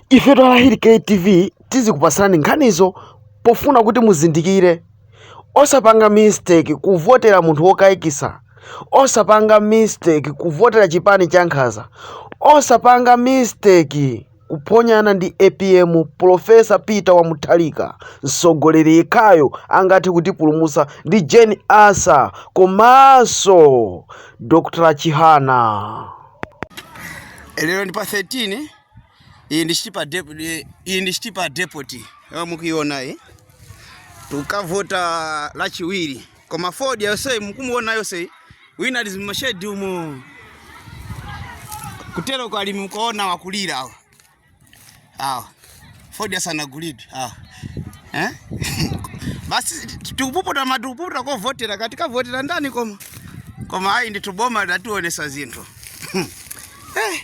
Ife twalahiri KTV tizikupasirani nkhanizo pofuna kuti muzindikire. Osapanga mistake kuvotera munthu wokaikisa. Osapanga mistake kuvotera chipani cha nkhaza. Osapanga mistake kuphonyana ndi apm Pulofesa Peter Mutharika mtsogoleri yekhayo angathe kutipulumutsa ndi Jane Ansah komanso Dr Chihana. Lero ndi pa 13. iyi ndi chitipa depoti iyi ndi chitipa depoti yomwe mukuiona iyi tukavota lachiwiri koma fodya yenseyu mukumuona yenseyu wina ali m'mashedi umo kutero kwa alimi mkuona wakulira awa awa fodya sanagulidwe awa eh? basi tikupuputa matukuputa kovotera tikavotera ndani koma koma ayi ndithu boma latiwonesa zinthu eh.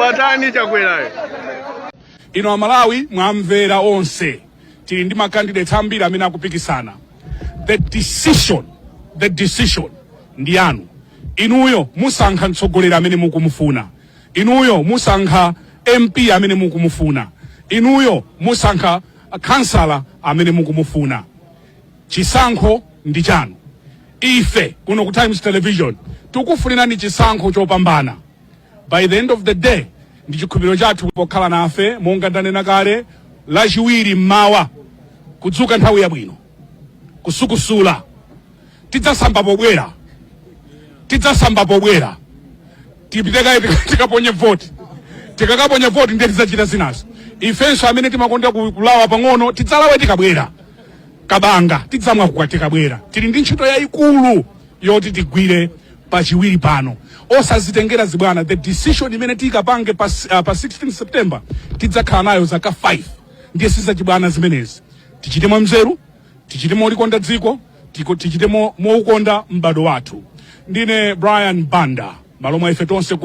watani chakwerayo inu amalawi mwamvera onse tili ndi makandidates ambiri amene akupikisana the decision ndi yanu inuyo musankha mtsogoleri amene mukumufuna Inuyo musankha MP amene mukumufuna. Inuyo musankha khansala amene mukumufuna. Chisankho ndi chanu. Ife kuno ku Times Television tikufunirani chisankho chopambana. By the end of the day, ndi chikhulupiriro chathu pokhala nafe, monga ndanena kale, Lachiwiri m'mawa kudzuka nthawi yabwino, kusukusula, tidzasamba pobwera tidzasamba pobwera tipite kaye tika- tikaponye voti tikakaponya voti ndiye tidzachita zinazo ifenso amene timakonda ku- kulawa pang'ono tidzalawe tikabwera kabanga tidzamwa tikabwera tili ndi ntchito yayikulu yoti tigwire pachiwiri pano osazitengera zibwana the decision imene tikapange pa, s- ah, pa 16 september tidzakhala nayo zaka 5 ndiye sizachibwana zimenezi tichite mwanzeru tichite molikonda dziko tiko- tichite mo- moukonda m'bado wathu ndine brian banda m'malo mwa ife tonse ku